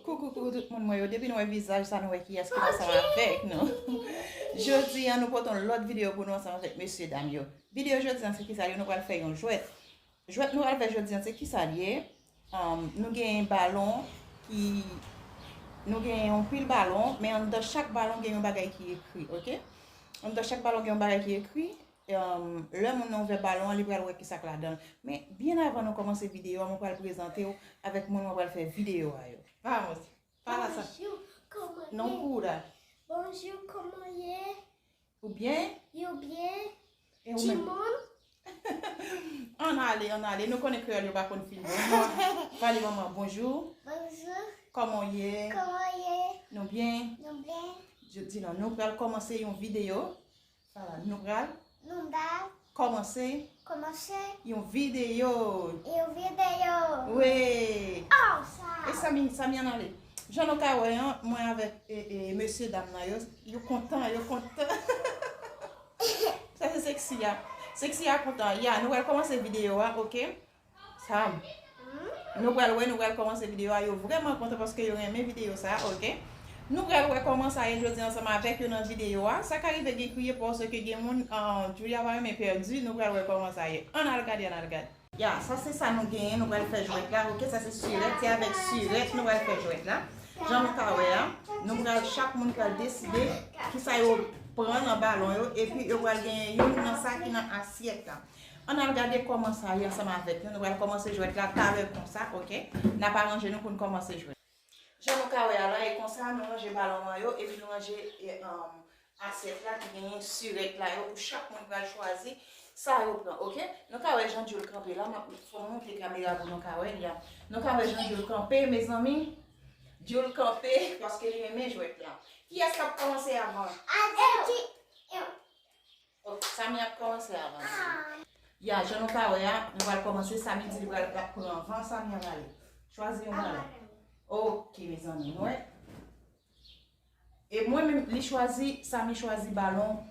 Coucou pou tout moun mwen yo depi nou wè vizaj sa nou wè kiyès ki ansanm avèk nou jodi an nou pote yon lòt videyo pou nou ansanm avèk mesye dam yo videyo jodi an se kisa yo nou pral fè yon jwèt jwèt nou pral fè jodi an se kisa li ye nou gen yon balon ki nou gen yon pil balon men an dan chak balon gen yon bagay ki ekri ok an dan chak balon gen yon bagay ki ekri Lè moun nan ouvè balon an li pral wè kisak ladanl. Men byen avan nou kòmanse videyo a mwen pral prezantew avèk moun mwen pral fè videyo a yo. Vamos! Fala sa. Bonjour, como é? Non pura. Bonjour, como é? Ou byen? Yo byen? E ou menm? Timoun? Ann ale, ann ale. Nou konnen kreyòl yo pa konn fin bon. Pale manman bonjou. Bonjou. Kòman ou ye? Kòman ou ye? Nou byen? Nou byen. Di non nou pral kòmanse yon videyo. Nou pral kòmanse yon videyo. Jan nou ka wè an, mwen avèk mesye dam nan yo, yo kontan, yo kontan. Sa se seksi a. Seksi a kontan. Ya, nou pral kòmanse videyo a, ok? Sam Nou pral wè nou pral kòmanse video a yo vrèman kontan paske yo renmen video sa ok Nou pral wè kòman sa ye jodi ansanm avèk yo nan video a sa ka rive gen kriye paske gen moun Julia pa renmen pèdi nou pral wè kòman sa ye ann al gade ann al gade. Ya sa se sa nou genyen nou pral fè jwèt la ok sa se sirèt se avèk sirèt nou pral fè jwèt la jan nou ka wè a nou pral chak moun pral deside kisa yo pran nan balon yo epi yo pral genyen youn nan sa ki nan asyèt la. Ann al gade kòman sa ye ansanm avèk nou. Nou pral kòmanse jwèt la talè konsa, ok? N ap aranje nou pou n kòmanse jwèt. Jan nou ka wè a la, e konsa nou ranje balon an yo epi nou ranje asyèt la ki genyen sirèt la yo pou chak moun pral chwazi sa yo pran, ok? Nou ka wè jan Djol kanpe la, m ap fè w monte kamera pou nou ka wè li a. Nou ka wè jan Djol kanpe, mezanmi. Djol kanpe paske li renmen jwèt la. Kiyès k ap kòmanse avan? Atis! Oh Samy ap komanse avan Djoulie. Ya jan nou ka wè a nou pral komanse Samy di li pral lap pran anvan Samy an ale chwazi yon kala ok mezanmi nou wè e mwen menm li chwazi Samy chwazi balon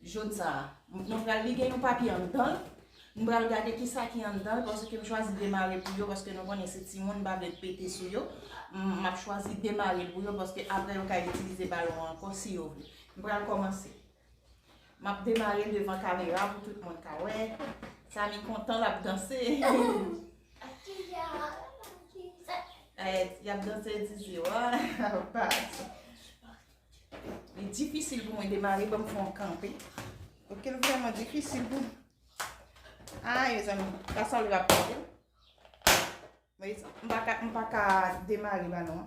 jaune sa nou pral li gen yon papye anndanl nou pral gade kisa ki anndanl paske m chwazi demare pou yo paske nou konnen se timoun m pa vle pete sou yo m ap chwazi demare pou yo paske apre yo ka itilize balon an ankò si yo vle m pral komanse. Map demarel devan kamera pou tout moun ka wè. Samy kontan lap danse. Yap danse dizzy wa. Li difisil pou mwen demare banm fon kanpe. Ok li vreman difisil pou. Ay me zanmi. Kasa li rap kanpe. Mwen pa ka demare banon.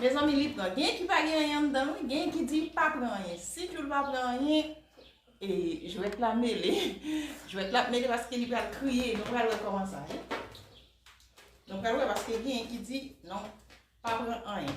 Mezanmi li pran gen ki pa gen anyen anndanl wi gen ki di pa pran anyen si jul pa pran anyen jwèt la mele jwèt la ap mele paske li pral kriye nou pral wè kòman sa ye nou pral wè paske gen ki di non pa pran anyen.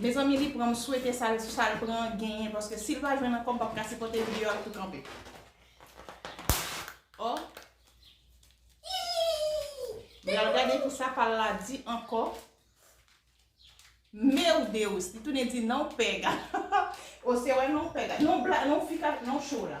Mezanmi li pran m swete sal sal pran an genyen paske sil pa jwenn ankò m pap ka sipòte video a tou kanpe oh m pral gade kisa pal la di ankò meu Deus li tounen di non pega oh se wè non pega non fi ka non show la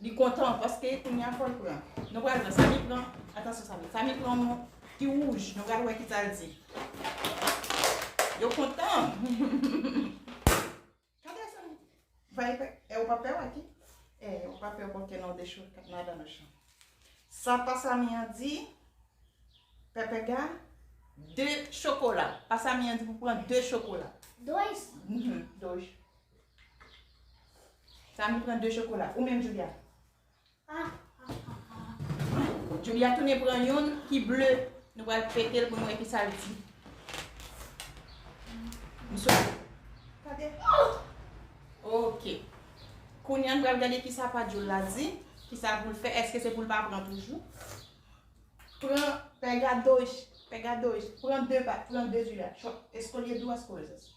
Li kontan paske kounya fòl pran. Nou pral wè Samy pran. Atansyon Samy. Samy pran yon ki wouj. Nou pral wè kisal di. Yo kontan. Kade Samy. Vay pè. E ou pa pè wè ki. E ou pa pè bon kè nan dechou. Kap nan dan mechan. Sa pa Samy an di. Pepe ga. De chokola. Pa Samy an di pou pran de chokola. Doj. Doj. Samy pran 2 chokola. Ou menm Julia? Julia tounen pran youn ki ble. Nou pral fete l pou nou wè ki sa l di. M sou. Gade. Ok. Kounya nou pral gade ki sa pa Jul la di. Ki sa pou l fè. Eske se pou l pa pran toujou. Pran. Pega 2. Pega 2. Pran 2 pa. Pran 2 Julia. Chòk. Esko l ye dous kouze.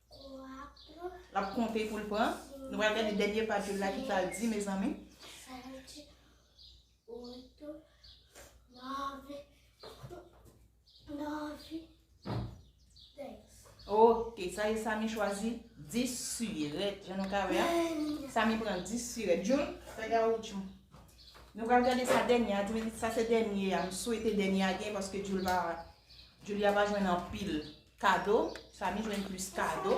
Lap konte poul pran. Nou pral gade dènye paj yo la ki sa l di mezanmi. Ok, sa ye Samy chwazi 10 siret. Jan nou ka wè a. Samy pran 10 siret. Jun, fè gawoutchou. Nou pral gade sa dènye a. Sa se dènye a. M swete dènye a gen paske Julia pa jwenn anpil. Kado, Samy jwenn plis kado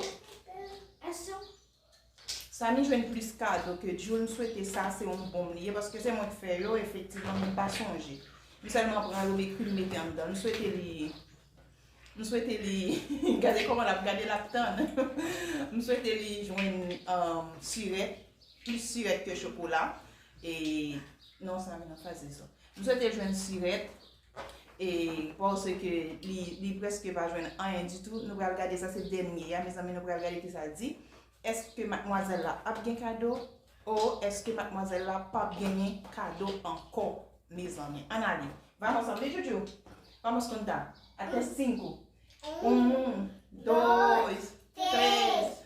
Samy jwenn plis kado ke Djou M swete sa se yon bonm li ye paske se mwen k fè yo efektivman men m pa sonje M sèlman pran yo m ekri m mete anndan M swete li M swete li Gade kòman l ap gade l ap tann M swete li jwenn sirèt plis sirèt ke chokola e non Samy nan faze sa M swete l jwenn sirèt E pase ke li preske pa jwenn anyen ditou, nou pral gade sa se dènye ya mezanmi nou pral gade kisa l di. Eske matmwazèl la ap gen kado? Ou eske matmwazèl la pap genyen kado ankò mezanmi? An ale. Vamos anvi joujou. Vamos konta. Ate 5. 1, 2, 3.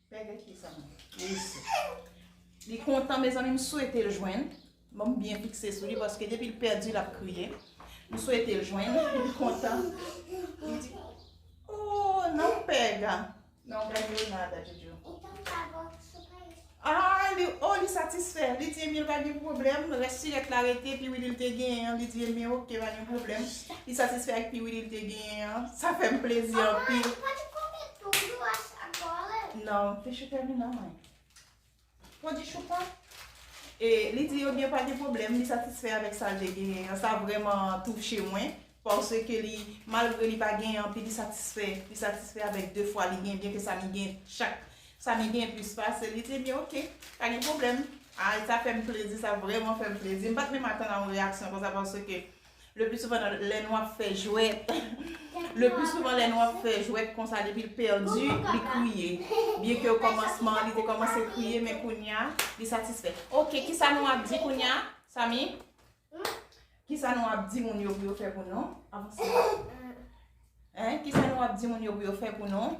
Pè gen ki sa menm? Mesi. Li kontan mezanmi m swete l jwenn. Bon m byen fikse sou li paske depi l pèdi l ap kriye. M swete l jwenn. Li kontan. Li di Ooh nan pega. Nan gade yo nan ada jojo. Aah li oh li satisfè. Li di ebyen pa gen pwoblèm. Rès sirèt la rete pi wili l te genyen an. Li di ebyen ok pa gen pwoblèm. Li satisfè ak pi wili l te genyen an. Sa fè m plezi anpil. Non, fè chou tèmine nan mwen. Ou di chou pa? E li di yo gen pa gen problem, li satisfè avèk sa li gen. An sa vreman touche mwen. Pòsè ke li, malgre li pa gen anpi li satisfè. Li satisfè avèk 2 fwa li gen, byen ke sa li gen chak. Sa li gen plis pase, li di byen ok, pa gen problem. Ay sa fèm plezi, sa vreman fèm plezi. M pat menm atann a yon reyaksyon konsa pòsè ke. Le pli souvan nan lè nou ap fè jwèt Le pli souvan lè nou ap fè jwèt konsa depi l pèdi li kriye byen ke o kòmansman an li te kòmanse kriye men kounya li satisfè ok kisa nou ap di kounya Samy kisa nou ap di moun yo pou yo fè pou nou avanse kisa nou ap di moun yo pou yo fè pou nou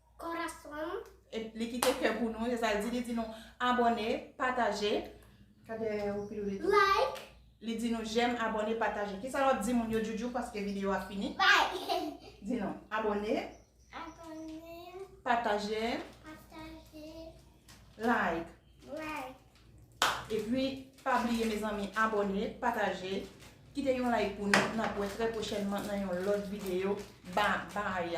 Corazón. Et li kite kè pou nou, se sa l di, li di nou abone, pataje. Kade ou pi dou li tou. Like. Li di nou jèm, abone, pataje. Kisa wap di moun yo Djoudjou paske video a fini? Like. Di nou abone. Abone. Pataje. Pataje. Like. Like. E pi pa bliye mezanmi abone, pataje, kite yon like pou nou, nap wè trè pwochènman nan yon lòt video. Ba bay.